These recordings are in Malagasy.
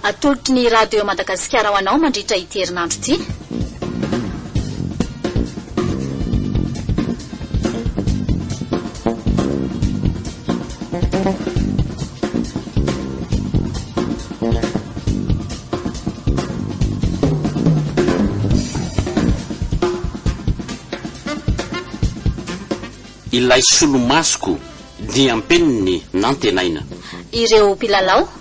Atolotry ny Radio Madagasikara ho anao mandritra ity herinandro ity. ilay solomasoko diam-peniny nantenaina. Ireo mpilalao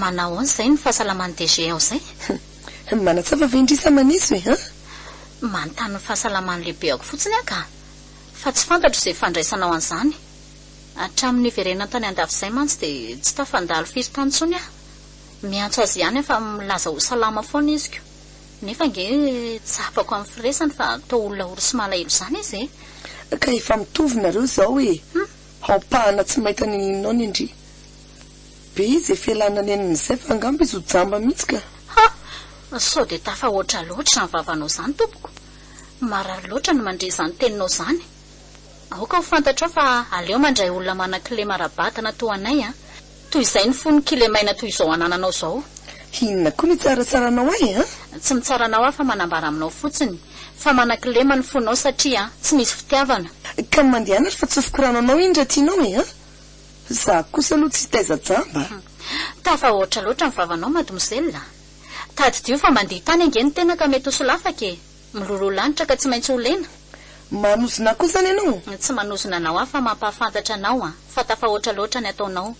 Manahoana izay ny fahasalaman'i DG ao izay? Hum. Manatsafa ve indrisy aho maneso e? Hum. Manontany ny fahasalaman'ny lehibeako fotsiny aho ka. Fa tsy fantatro izay fandraisanao an'izany. Hatramin'ny niverenany tany an-dafy izay mantsy dia tsy tafandalo firy tany intsony aho. Miantso azy ihany aho fa milaza ho salama foana izy ko. Nefa ange tsapako amin'ny firesany fa toa olona ory sy malahelo izany izy e! Ka efa mitovy nareo izao e! Hum. Aompahana tsy maita ny ninoany ndry. Be izy efa ela nanenina izay fa angamba izy ho jamba mihitsy ka! Ha! Sao dia tafahoatra loatra izany vavanao izany tompoko? Marary loatra ny mandre izany teninao izany. Aoka ho fantatrao fa aleo mandray olona manan-kilema ara-batana toa anay an! Toy izay ny fo ny kilemaina toy izao anananao izao. Inona koa no hitsarantsaranao ahy an? Tsy mitsara anao aho fa manambara aminao fotsiny fa manan-kilema ny fonao satria tsy misy fitiavana. Ka mandehana ary fa tsofiko rano anao indry aty nao e an! Za kosa aloha tsy taiza jamba a! Tafahoatra loatra ny vavanao mademoiselle a! Tadidio fa mandihy tany ange ny tena ka mety ho solafaka e! Miloloha lanitra ka tsy maintsy ho lena! Manozona koa zany ianao? Tsy manozona anao aho fa mampahafantatra anao a! Fa tafahoatra loatra ny ataonao!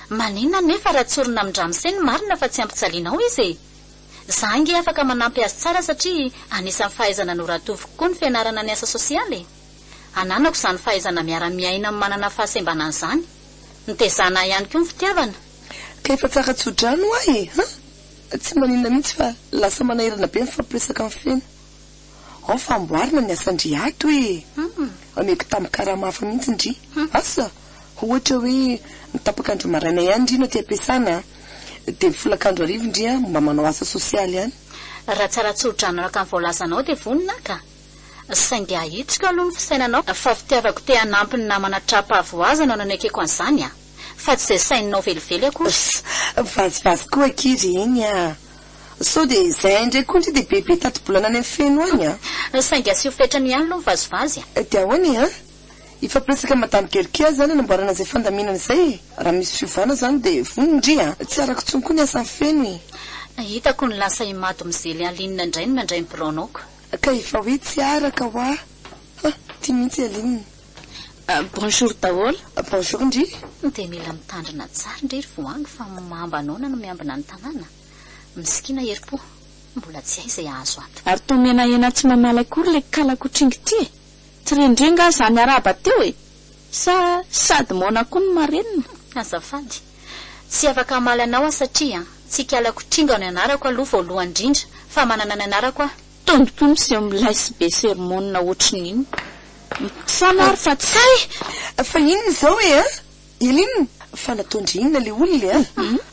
Maninona anefa raha tsorina amin-dramose ny marina fa tsy ampijalianao izy e! Za ange afaka manampy azy tsara satria anisan'ny fahaizana noratoviko koa ny fianarana ny asa sosialy e! Ananako izany fahaizana miara-miaina amin'ny manana fahasembana izany. Nitezàna ahy ihany koa ny fitiavana. Ka efa tsara tsodrano ahy e! Ha! Tsy maninona mihitsy fa lasa manahirana be mifampiresaka amin'ny feno. Ao fa amboarina ny asan-dry ato e! Omeko tambin-karama hafa mihitsy ndry. Asa! Ohatra hoe ny tapak'andro maraina ihany ndry no aty am-piasana dia ny folakandro hariva ndry mba manao asa sosialy ihany. Raha tsara tsodrano araka ny voalazanao dia vonona aho ka! Saingy ahitsiko aloha ny fisainanao fa fitiavako te hanampy ny namana tra-pahavoazana no nanekeko an'izany a! Fa tsy izay saininao velively akory. Vazivazy koa akia ry iny a! Sao dia izay indray koa ndry dia bebe tati-bolana any amin'ny feno any a! Saingy asio fetrany ihany aloha ny vazivazy a! Dia ahoana e a! Hifampiresaka madame Gerke izany hanamboarana izay fandaminana izay e! Raha misy fiovana izany dia vonona ndry a! Tsy arako intsony koa ny asan'ny feno e! Hitako ny lasa i Mado mizely Aline indray ny mandray ny biraonao ko! Ka efa hoe tsy araka hoa ha ty mihitsy Aline. Bonjour daholo. Bonjour ndry. Dia mila mitandrina tsara ndry ry voangy fa mamba noana no miambina ny tanàna. Mskin herim-po. Mbola tsy hay izay hahazo ato. Ary toa menahena tsy mamaly akory ilay kalakotringy ity e! Tsy rendreo nga zany araba teo e! Sa sady moana koa ny marenina? Azafady. Tsy afaka hamaly anao aho satria tsy hikalako tringa ny anarako aloha voalohany indrindra fa manana ny anarako aho. Tony koa miseho milay sy be sermonina ohatry ny inona. Misaona ary fa tsy. Hay! Fa inona izao e a! Eline! Fa nataon-dry inona ilay olona e a!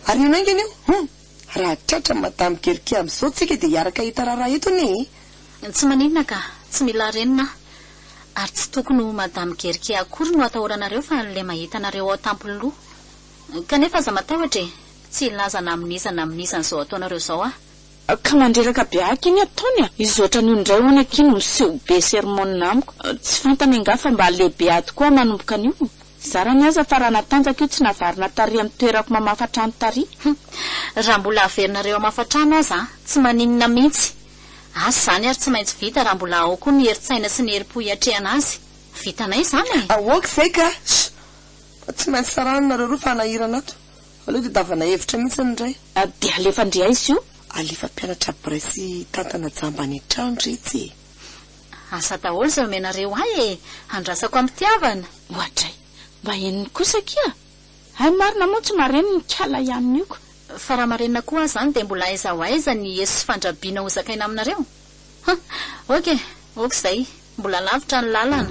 Ary inona haingana io? Hum! Raha tratra madame Gerkia amzao tsika dia hiaraka hita raharaha eto anie e! Tsy maninona ka, tsy mila renina aho. Ary tsy tokony ho madame Gerkia akory no atahoranareo fa an'ilay mahita anareo ao tampon'loha. Kanefa aza matahotra e! Tsy hilaza na amin'iza na amin'iza an'izao ataonareo izao aho. Ka mandreraka be aky anie ataony a! Izy ohatran'io indray hono aky no miseho be sermon amiko. Tsy fantany angaha fa mba lehibe ady koa manomboka anio? Zarany aza fa raha natanjaka io tsy navarina tary amin'ny toerako mamafa trano tary. Hum. Raha mbola averinareo hamafa trano aza an, tsy maninona mihitsy. Asa izany ary tsy maintsy vita raha mbola ao koa ny herin-tsaina sy ny herim-po hiatrehana azy. Vitanay izany e! Aoka izay ka! Shh! Fa tsy maintsy tsarana nareo roa fa hanahirana ato. Aleo tadiavana hevitra mihitsy ny iray. Dia alefa an-dry aiza io? Alefa mpianatra bray sy tantana jamba any an-trano ry itsy e! Asa daholo izay omenareo ahy e! Andrasako amim-pitiavana. Oadray! Mba henony kosa akia! Hay marina moa tsy marenina ikala ihany io ka! Fa raha marenina koa aza an dia mbola aiza ho aiza ny eso sy fandrabiana ho zakaina aminareo? Hum! Ok! Ok izay! Mbola lavitra ny lalana.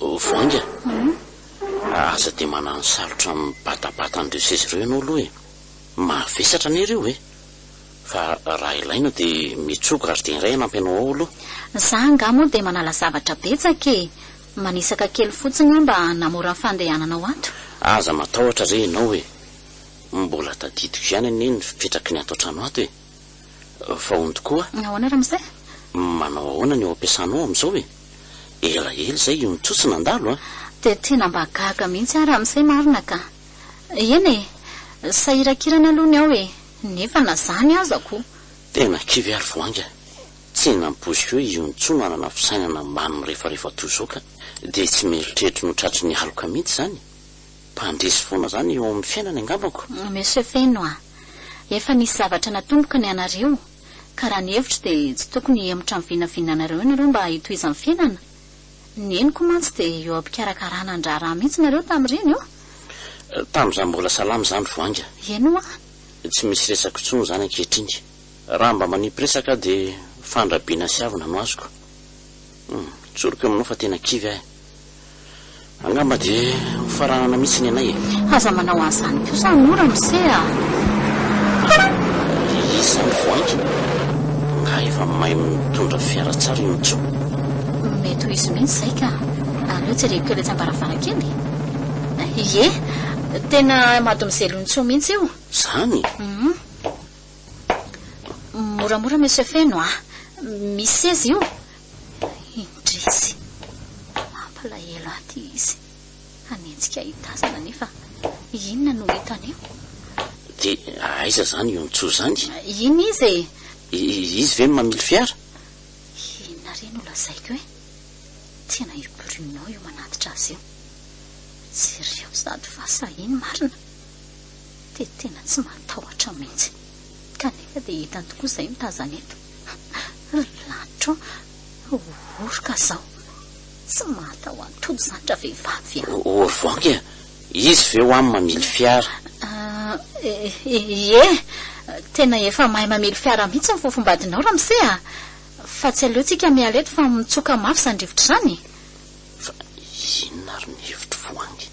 Voainga a! Aza dia manano salotra mibatabata an'ireo seza ireo ianao aloha e! Mavesatra anie ireo e! Fa raha ilaina dia mitsoa gardien iray hanampy anao ao aloha. Za angaha moa dia manala zavatra betsaka e! Manisaka kely fotsiny aho mba hanamora ny fandehananao ato. Aza matahotra re ianao e! Mbola tadidiko ihany anie ny fipetraky ny ato an-trano ato e! Vahondo koa. Ahoana ramose? Manao ahoana ny ao am-piasanao amin'izao e? Elaela izay io nitsotso nandalo a! Dia tena mba gaga mihitsy aho ramose marina ka! Eny e! Sahirakirana aloha ny ao e! Nefa na izany aza koa. Tena kivy ary vao hainga tsy nampoiziko hoe io ntsony hanana fisainana mba nirefarefa toy izao ka! Dia tsy mieritreritra ny ho tratry ny aloka mihitsy izany! Mpandresy foana zany eo amin'ny fiainany angambako. Monsieur Feno a! Efa nisy zavatra natomboka ny anareo, ka raha ny hevitro dia tsy tokony hihemotra amin'ny vinavinanareo ianareo mba hitohizan'ny fiainana. Ny henoko mantsy dia eo am-pikarakarana ny raharaha mihitsy nareo tamin'ireny ô! Tamin'izaho mbola salama izany vao hainga. Eny hoa! Tsy misy resako intsony izany ankehitriny. Raha mba manipy resaka aho dia fandrabiana sy avona no azoko. Hum, tsoriko aminao fa tena kivy aho e! Angamba dia ho faranana mihitsy ny anay e! Aza manao an'izany kosa anio ramose a! Ry Isa mivoankina, angaha efa mahay mitondra fiara tsara i Ontso? Mety ho izy mihitsy izay ka! Aleo jereko kely etsy am-baravarankely e! Ie, tena mademoiselle Ontso mihitsy io! Izany? Moramora monsieur Feno a! Misy seza io, Mba indrisy! Mampalahelo ahy ity izy. Hanenjika ahy tazana nefa inona no hitany eo? Dia aiza izany io Ntsoa izany? Inona izy e? Izy ve no mamily fiara? Inona re no lazaiko e? Tena i Bruno io manatitra azy io. Jereo sady fa sahiny marina. Dia tena tsy matahotra mihitsy. Kanefa dia hitany tokoa izay mitazana eto. Ry lanitra ô, oroka zao, tsy mahatahoan-tody zany ravehivavy a! Au revoir e! Izy ve ho'a mamily fiara? Ie, tena efa mahay mamily fiara mihitsy ny fofombadinao ramose a! Fa tsy aleo tsika miala eto fa mitsoka mafy zany rivotra zany! Fa inona ary ny hevitry voangy?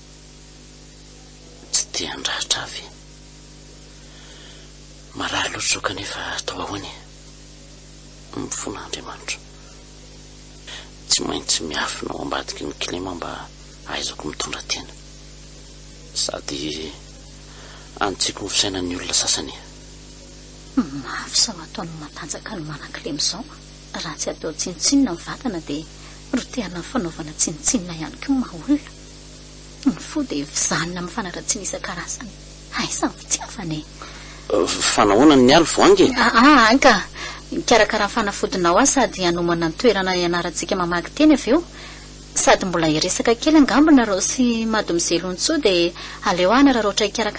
Tsy te handratra ahy ve? Marary loatra izao kanefa atao ahoana e? Mifona Andriamanitra. Tsy maintsy miafina ao ambadiky ny kilema aho mba hahaizako mitondra tena. Sady any tsy ko ny fisainan'ny olona sasany e. Mafy sao ataon'ny matanjaka ny manan-kilema izao a! Raha tsy atao tsinontsinona ny vatana dia rotehana amin'ny fanaovana tsinontsinona ihany koa ny maha-olona. Ny fo dia vizanina amin'ny fanaratsiana isan-karazany. Aiza ny fitiavana e? Fa nahoana ny alo voangy e? Aa any ka! Hikarakara ny fanafodinao aho sady hanomana ny toerana hianarantsika mamaky teny avy eo. Sady mbola hiresaka kely angambonareo sy Mademoiselle Ontsoa dia aleo aho hanararaotra hikarakara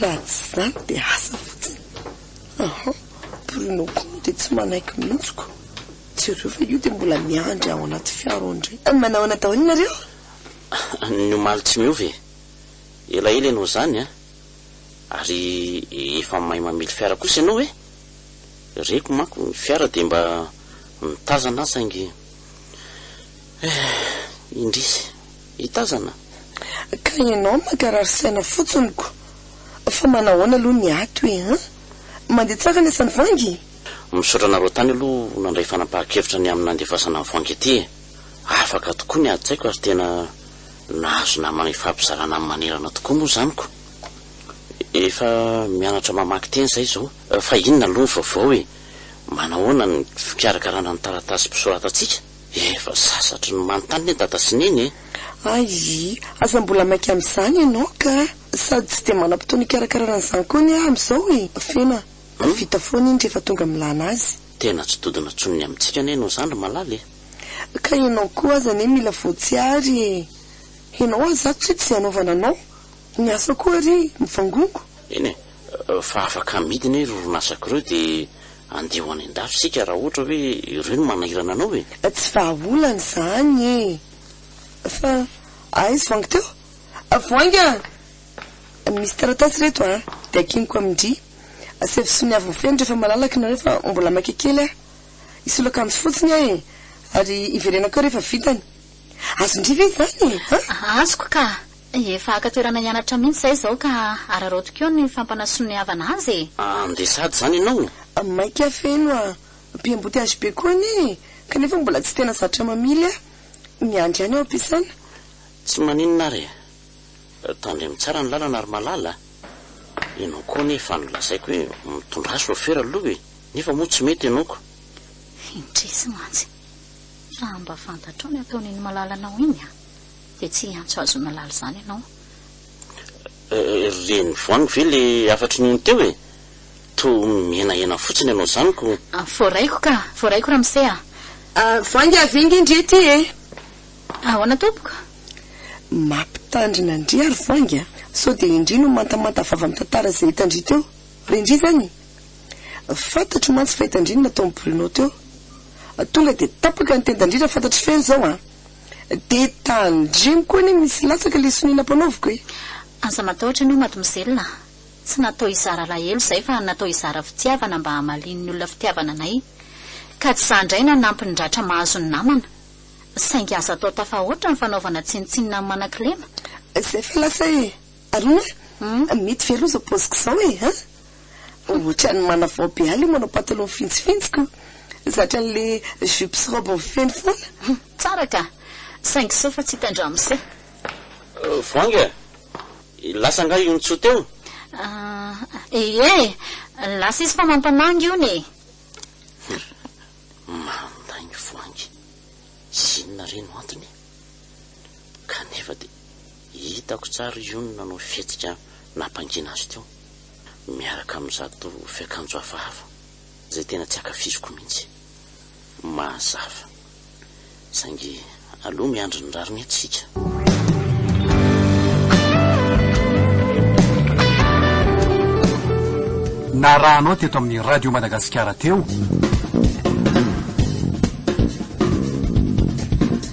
Raha tsy izany dia asa fotsiny. Aha, Bruno koa moa dia tsy manaiky mihitsy ko. Jereo fa io dia mbola miandry ao anaty fiara ao indray. Manao ahoana daholo nareo? Ny omaly tsy miova e. Elaela ianao izany an! Ary efa mahay mamily fiara kosa ianao e! Reko manko ny fiara dia mba mitazana an saingy eh, indrisy. hitazana. Ka ianao mankarary saina fotsiny ko! Fa manahoana aloha ny ato e an! Mandeha tsara ny asan'i Vangy? Misaotra anareo tany aloha nandray fanapahan-kevitra ny amin'ny nandefasana an'i Vangy aty e! Afaka tokoa ny adi-tsaiko ary tena nahazo namana ifampizarana amin'ny manerana tokoa moa izany ko! Efa mianatra mamaky teny izahay izao. Fa inona aloha ny vaovao e? Manahoana ny fikarakarana ny taratasim-pisoratantsika? Efa sasatry ny manontany anie dada sy neny e! Ayy aza mbola maika amin'izany ianao ka! Sady tsy dia manam-potoana hikarakarana an'izany koa anie aho amin'izao e! Fena fa vita foana iny rehefa tonga milana azy. Tena tsy dodona intsony ny amintsika anie ianao izany ry Malala e! Ka ianao koa aza anie mila voatsiary e! Ianao aza ato tsy hoe tsy hanaovana anao ny asa koa ary mivangongo. Eny e! fa afaka amidiny ireo orinasako ireo dia andeha ho any an-dafy isika raha ohatra hoe ireo no manahirana anao e! Tsy vahaolana izany e! Fa aiz voangy teo? Voangy a! Misy taratasy ireto a! Dia akiniko amin-dry. Asevo soniavo ny feny rehefa malalaka ianareo fa mbola maika kely aho. Hisolo akanjo fotsiny aho e! Ary hiverenako eo rehefa vitany. Azon-dry ve izany e? Azoko ka! Efa haka toerana hianatra mihitsy izahay izao ka araraoty koa ny fampanasoniavana azy e! Andeha sady izany ianao? Mainka feno a! Mpiamboty azy be koa anie e! Kanefa mbola tsy tena zatra mamily a! Miandry ihany ao am-piasana. Tsy maninona ary e! Tandremo tsara ny lalana ry malala a! Ianao koa anie efa nolazaiko hoe mitondrà chauffeur aloha e! Nefa moa tsy mety ianao ko! Indrisy mantsy! Raha mba fantatrao ny ataon'iny malala anao iny a! Dia tsy hiantso hazo malala izany ianao eh. Ry reny voangy ve le hafatry ny ony teo e? Toa mihenahena fotsiny ianao izany ko. Voaraiko ka, voaraiko ramose a. Voangy avy enga ndry ety e. Ahoana tompoko? Mampitandrina ndry ary voangy a. Sao dia indry no mantamanta vava amin'ny tantara izay hitandry teo? Re ndry izany? Fantatro mantsy fa hitandry ny nataon'i Bruno teo. Tonga dia tapaka ny tendandry raha fantatry feno izao a. De tandremo koa anie misy latsaka le sonia nampanaoviko e. Aza matahotra anio mademoiselle, tsy natao hizara alahelo izahay fa natao hizara fitiavana mba hamalian'ny olona fitiavana anay. Ka tsy izaho indray nanampy ny ratra mahazo ny namana. Saingy aza atao tafahoatra ny fanaovana tsinontsinona amin'ny manan-kilema. Izay fa lasa e! Arona a, mety ve aloha izao paoziko izao e a? Ohatran'ny manavao be ahy ilay manao pataloha mifintsifintsiko, zatra an'ilay jupe sy robe mifehy foana. Tsara ka! Saingy sao fa tsy hita an-dramose. Voahangy a! Lasa angaha io Ntsou teo? Ie, lasa izy fa mampamangy hono e! Mandainga Voahangy, inona re no antony? Kanefa dia Hitako tsara i Yoon nanao fihetsika nampangina azy teo, miaraka amin'izato fiakanjo hafahafa izay tena tsy ankafiziko mihitsy. Mazava. Saingy aleo miandry ny rariny eto isika. Narahanao teto amin'ny Radio Madagasikara teo.